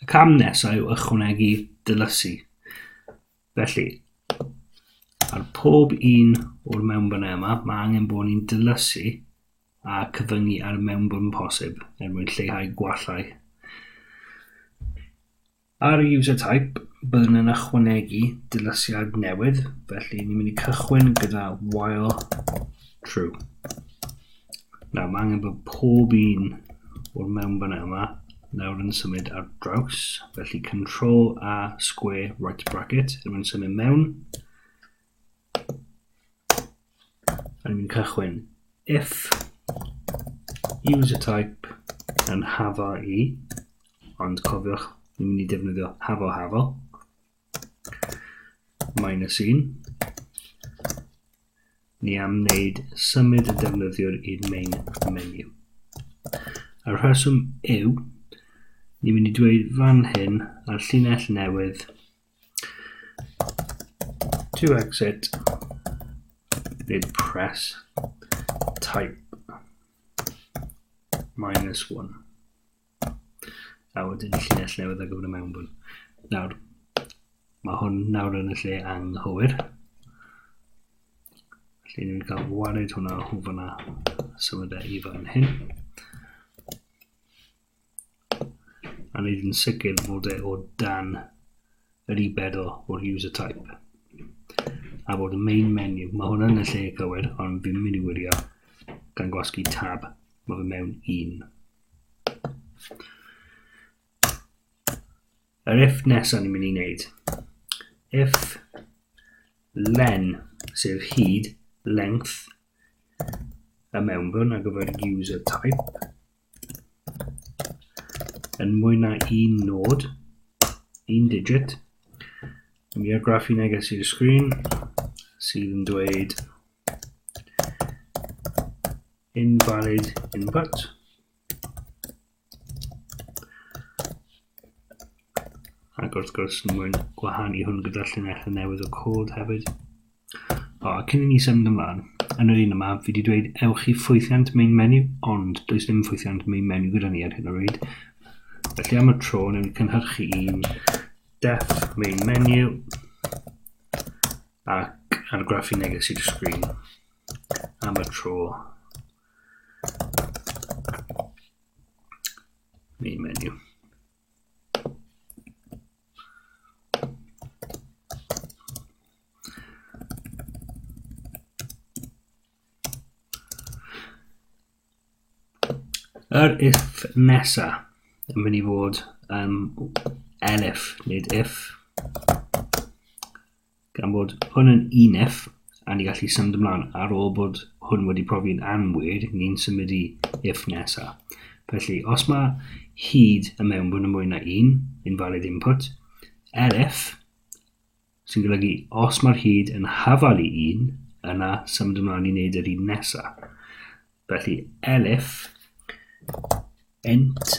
Y cam nesaf yw ychwanegu dylysu. Felly, ar pob un o'r mewnbynau yma, mae angen bod ni'n dylysu a cyfyngu ar y mewnbwn posib er mwyn lleihau gwallau. Ar y user type, byddwn yn ychwanegu dylysiad newydd, felly ni'n mynd i cychwyn gyda while true. Nawr, mae angen bod pob un o'r mewnfynau yma nawr yn symud ar draws. Felly, control a square right bracket, yn mynd symud mewn. Yn mynd cychwyn if user type yn hafo i, ond cofiwch, ni'n mynd i defnyddio hafo hafo. minus 1. Ni am wneud symud y defnyddiwr i'r main menu. A'r rheswm yw, ni'n mynd i dweud fan hyn ar llinell newydd to exit nid press type minus 1. A wedyn y lle lle oedd ar gyfer y mewnbwn. Nawr, mae hwn nawr yn y lle anghywir. Felly ni'n cael wared hwnna o fanna symud e i fan hyn. A ni'n yn sicr fod e o dan yr i bedol o'r user type. A bod y main menu, mae hwnna yn y lle cywir, ond fi'n mynd i wirio gan gwasgu tab, mae fe mewn un. Yr if nesaf ni'n mynd i wneud. If len, sef hyd, length, y mewnbwn ar gyfer user type, yn mwy na un nod, un digit, mi ar graff i neges i'r sgrin sydd yn dweud invalid input. Ac wrth gwrs, mwyn gwahanu hwn gyda'r llinell y newydd o cod hefyd. O, cyn i ni symud ymlaen, yn yr un yma, fi wedi dweud ewch i ffwythiant main menu, ond does dim ffwythiant main menu gyda ni ar hyn o bryd. Felly am y tro, newn ni cynhyrchu un def main menu ac argraffu neges i'r sgrin. am y tro. Main menu. Yr if nesa yn mynd i fod um, elif, nid if. Gan bod hwn yn UNEF, a ni gallu symud ymlaen ar ôl bod hwn wedi profi'n anwyd, ni'n symud i if nesa. Felly, os mae hyd y mewnbwn yn mwy na un, invalid input, elif, sy'n golygu os mae'r hyd yn hafal i un, yna symud ymlaen i wneud yr un nesa. Felly, elif, int,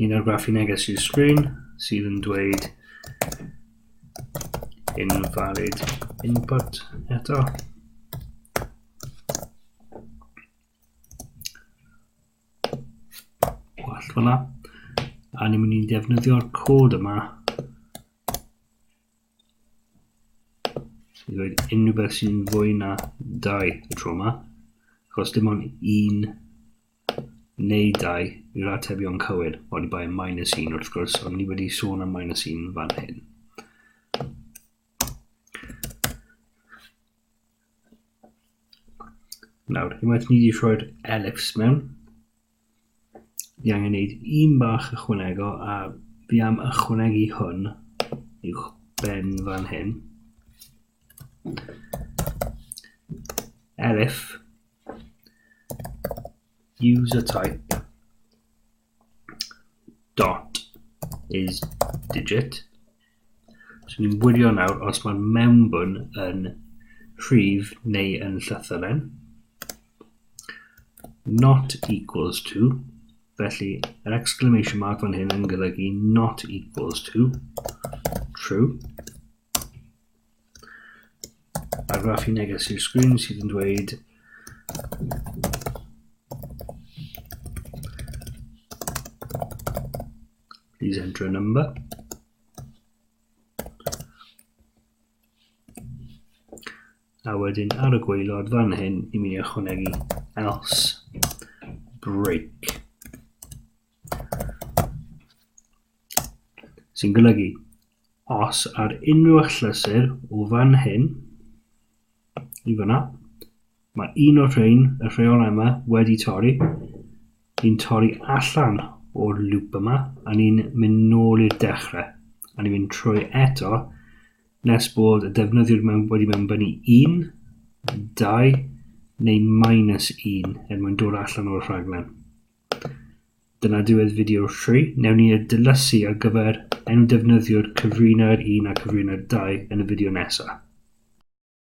Un o'r graffu neges i'r sgrin sydd yn dweud invalid input eto. Gwallt fyna. A ni'n mynd i'n defnyddio'r cod yma i ddweud unrhyw beth sy'n fwy na dau y tro yma. Chos dim ond un neu 2 yw'r atebion cywir, oni bai minus 1 wrth gwrs, ond ni wedi sôn am minus 1 fan hyn. Nawr, unwaith ni wedi rhoi'r ellips mewn, ni angen gwneud un bach ychwanego a fi am ychwanegu hwn i'w ben fan hyn. Elif user type dot is digit. So ni'n wirio nawr os mae'r mewnbwn yn rhif neu yn llythyren. Not equals to, felly yr exclamation mark fan hyn yn golygu not equals to, true. argraff i neges i'r sgrin sydd yn dweud Please enter a number. A wedyn ar y gweilod fan hyn i mi ychwanegu else break. Sy'n golygu, os ar unrhyw achlysur o fan hyn i fyna, mae un o'r rhain, y rheolau yma, wedi torri, ni'n torri allan o'r lŵp yma, a ni'n mynd nôl i'r dechrau, a ni'n mynd trwy eto, nes bod y defnyddiwr mewn, wedi mewnbynnu 1, 2, neu minus 1, er mwyn dod allan o'r rhaglen. Dyna diwedd fideo 3. Newn ni y dylysu ar gyfer enw defnyddiwr cyfrinair 1 a cyfrinair 2 yn y fideo nesa.